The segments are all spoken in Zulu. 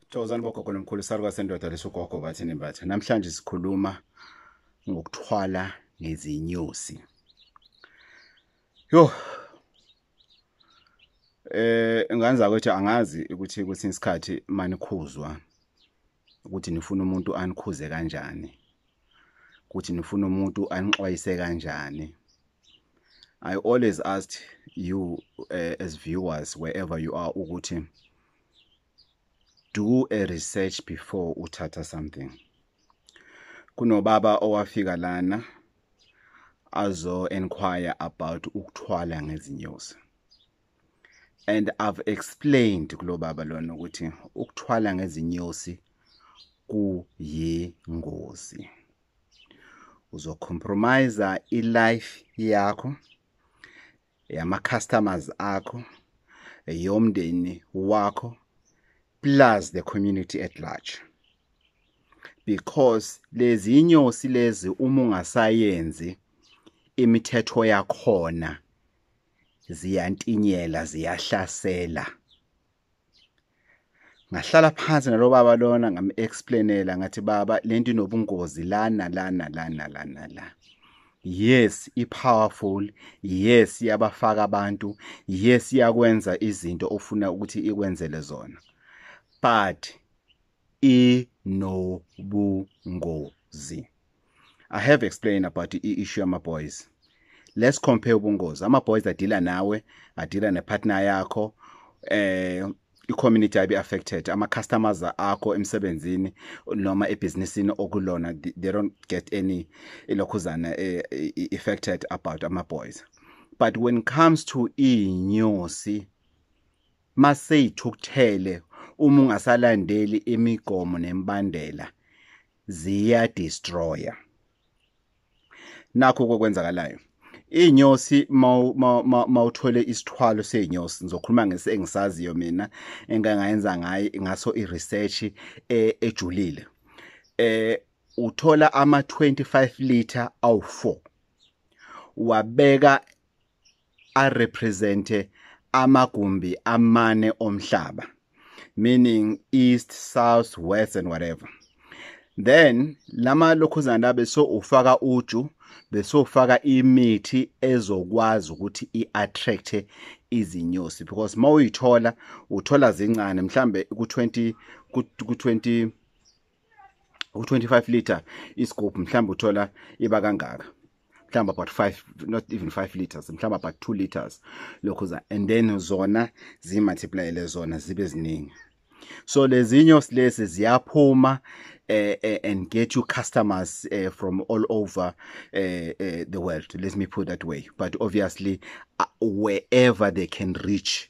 Thokozani bogogo nomkhulu saluka sendoda lesogogo bathi nembatha. Namhlanje sikhuluma ngokuthwala ngezinyosi. Yo. Eh nganza ukuthi angazi ukuthi kwesinye isikhathi manikhuzwa ukuthi nifuna umuntu anikhuze kanjani. Ukuthi nifuna umuntu anixwayise kanjani. I always asked you uh, as viewers wherever you are ukuthi do a research before uthatha something kunobaba owafika lana azo inquire about ukuthwala ngezinyosi and i've explained kulobaba lona ukuthi ukuthwala ngezinyosi kuyingozi uzocompromise ilife yakho yama customers akho yomndeni wakho plus the community at large because lezi inyosi lezi uma ungasayenzi imithetho yakhona ziyantinyela ziyahlasela ngahlala phansi nalo baba lona ngam-explainela ngathi baba le nto inobungozi lana lana lana lana la yes i-powerful yes iyabafaka abantu yes iyakwenza izinto ofuna ukuthi ikwenzele zona but inobungozi. I have explained about the issue ama boys. Let's compare ubungozi. Ama boys adila nawe, adila ne partner yakho. Eh i-community ayibe affected ama customers akho emsebenzini noma ebhizinisini okulona they don't get any ilokhuzana eh, affected about ama boys but when it comes to inyosi maseyithukuthele uma ungasalandeli imigomo nemibandela ziya destroyer nakho kokwenzakalayo inyosi mawuthole isithwalo seyinyosi ngizokhuluma ngese engisaziyo mina engangayenza ngayo ngaso i-research e, ejulile eh uthola ama 25 liter awu4 wabeka arepresente amagumbi amane omhlaba meaning east south west and whatever then lama lokhuzana la beso ufaka uju beso ufaka imithi ezokwazi ukuthi iattract izinyosi because mawuyithola uthola zincane mhlambe ku20 ku20 u-25 liter isigubhu mhlawumbe uthola iba kangaka mhlawumbe about 5 not even 5 liters mhlawumbe about 2 liters lokhu za and then zona zimultiplyele zona zibe ziningi so lezinyo silezi ziyaphuma eh, eh, and get you customers eh, from all over eh, eh, the world let me put that way but obviously uh, wherever they can reach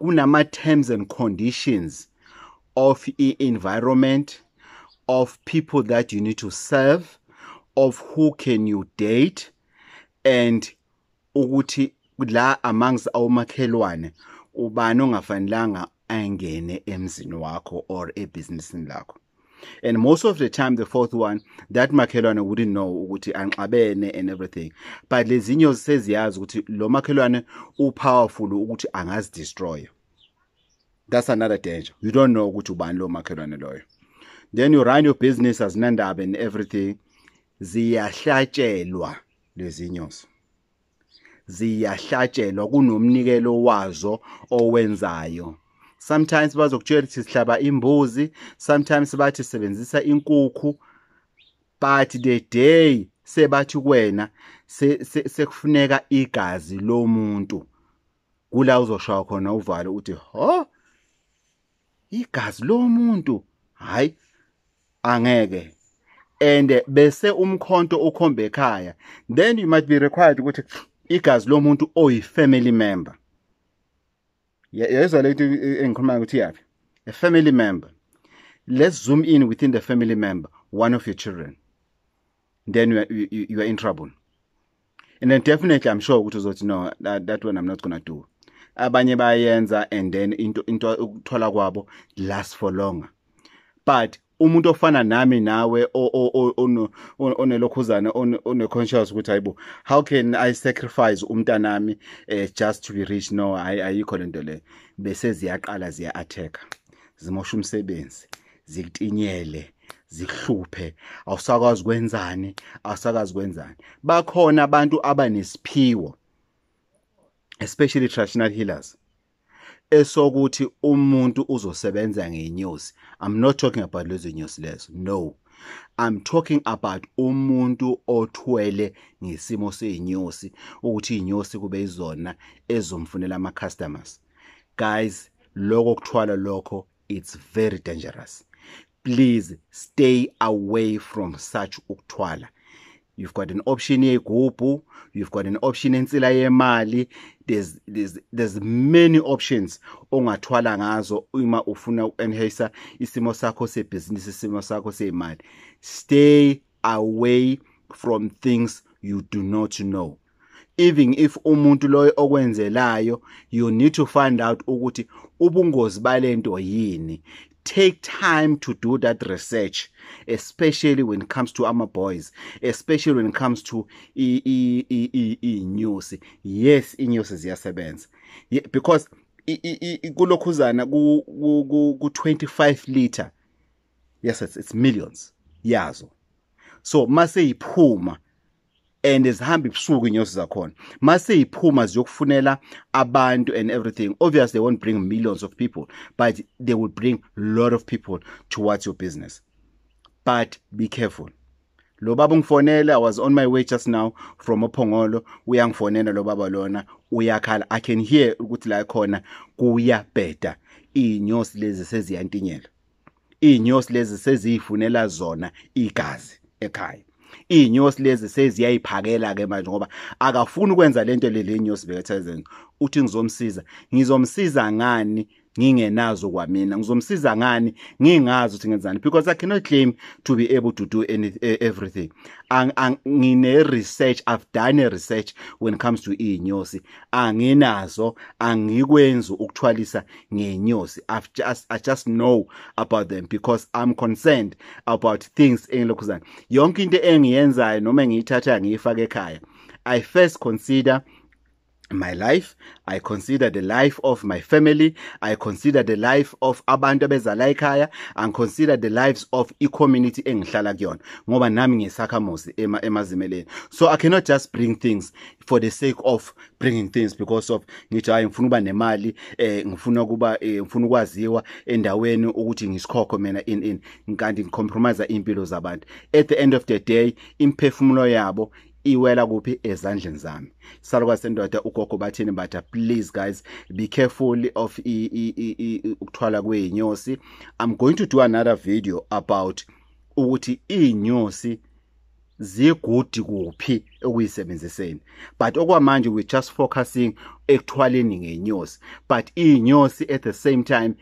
kunama terms and conditions of e environment of people that you need to serve of who can you date and ukuthi la amongst awumakhelwane ubani ongafanelanga angene emzini wakho or ebhizinisini lakho and most of the time the fourth one that makhelwane wouldn't know ukuthi anxabene and everything but lezinyo seziyazi ukuthi lo makhelwane upowerful ukuthi angazidestroy that's another danger you don't know ukuthi ubani lo makhelwane loyo then you run your business as nandaba and everything ziyahlatshelwa lezinyosi ziyahlatshelwa kunomnikelo wazo owenzayo sometimes bazokutshela ukuthi sihlaba imbuzi sometimes bathi sebenzisa inkukhu but the day sebathi kuwena sekufuneka se, se igazi lomuntu kula uzoshaya khona uvalo uthi ho igazi lomuntu hayi angeke and bese umkhonto ukhombe ekhaya then you might be required ukuthi igazi lomuntu oyi family member yezwa lento engikhuluma ukuthi yaphi a family member let's zoom in within the family member one of your children then you are, you, you are in trouble and then definitely i'm sure ukuthi uzothi no that, that one i'm not gonna do abanye bayenza and then into into ukuthola kwabo last for longer but umuntu ofana nami nawe onelokhuzana oneconscious ukuthi hayibo how can i sacrifice umntanami eh, just to be rich no ayikho lento le bese ziyaqala ziya attack zimosha umsebenzi zikutinyele zihluphe awusakwazi kwenzani awusakazi kwenzani bakhona abantu abanesiphiwo especially traditional healers esokuthi umuntu uzosebenza ngenyosi i'm not talking about lezo nyosi lezo no i'm talking about umuntu othwele ngesimo seyinyosi ukuthi inyosi kube izona ezomfunela ama customers guys lokho kuthwala lokho it's very dangerous please stay away from such ukuthwala you've got an option yeyigubhu you've got an option ensila yemali there's, there's, there's many options ongathwala ngazo uma ufuna uku-enhasa isimo sakho sebhizinisi isimo sakho seyimali stay away from things you do not know even if umuntu loyo okwenzelayo you need to find out ukuthi ubungozi balento yini take time to do that research especially when it comes to ama boys especially when it comes to i i i i inyosi yes inyosi ziyasebenza because kulokhuzana ku 25 liter yes it's, it's millions yazo so mase iphuma and zihamba ibusuku inyosi zakhona mase iphuma ziyokufunela abantu and everything obviously they won't bring millions of people but they will bring lot of people towards your business but be careful lo baba ungifonele i was on my way just now from ophongolo uyangifonela lo baba lona uyakhala i can hear ukuthi la khona kuyabheda inyosi lezi seziyantinyela izinyosi lezi seziyifunela zona igazi ekhaya izinyosi lezi seziyayiphakela ke manje ngoba akafuni ukwenza lento lelenyosi bekethazen uthi ngizomsiza ngizomsiza ngani ngingenazo kwamina ngizomsiza ngani ngingazi ukuthi ngenzani because i cannot claim to be able to do any, e, everything ngine research i've done a research when it comes to inyosi anginazo angikwenzi ukuthwalisa ngenyosi i've just i just know about them because i'm concerned about things engilokhuzana yonke into engiyenzayo noma ngiyithatha ngiyifaka ekhaya i first consider my life i consider the life of my family i consider the life of abantu abezala ekhaya and consider the lives of i-community engihlala kuyona ngoba nami ngisakhamuzi ema emazimeleni so i cannot just bring things for the sake of bringing things because of ngithi hayi ngifuna uba nemali eh ngifuna kuba eh, ngifuna ukwaziwa endaweni ukuthi ngisikhokho mina in in ngikanti ngicompromise impilo zabantu at the end of the day imphefumulo yabo iwela kuphi ezandleni zami salwa sendoda ugogo bathini batha please guys be careful of ukuthwala kweinyosi i'm going to do another video about ukuthi inyosi zigudi kuphi okuyisebenziseni but okwamanje we just focusing ekuthwaleni ngenyosi but iy'nyosi at the same time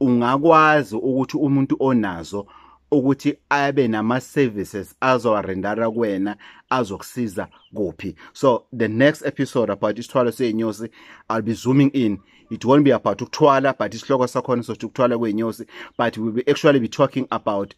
ungakwazi ukuthi umuntu onazo ukuthi abe nama-services azowarendara kuwena azokusiza kuphi so the next episode about isithwalo sey'nyosi i'll be zooming in it won't be about ukuthwala but isihloko sakhona sothi ukuthwala kwey'nyosi but we will actually be talking about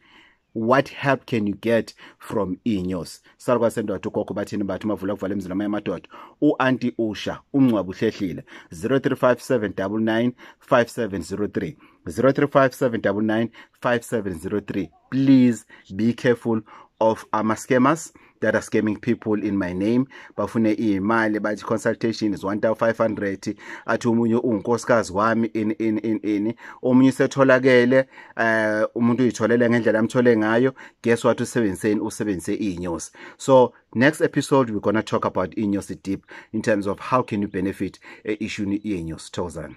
what help can you get from inyosi salukwa sendoda ugogo bathini bathi mavula kuvala emzini amanye amadoda u-anti usha ungcwaba uhlehlile 0357995703 0357995703 please be careful of ama-scammers that are scamming people in my name bafune imali bathi consultation is 1500 athi umunye ungunkosikazi wami in in in in omunye usetholakele eh umuntu uyitholele ngendlela amthole ngayo guess what usebenziseni usebenzise inyosi so next episode we're going to talk about inyosi deep in terms of how can you benefit e issue yenyosi thokozani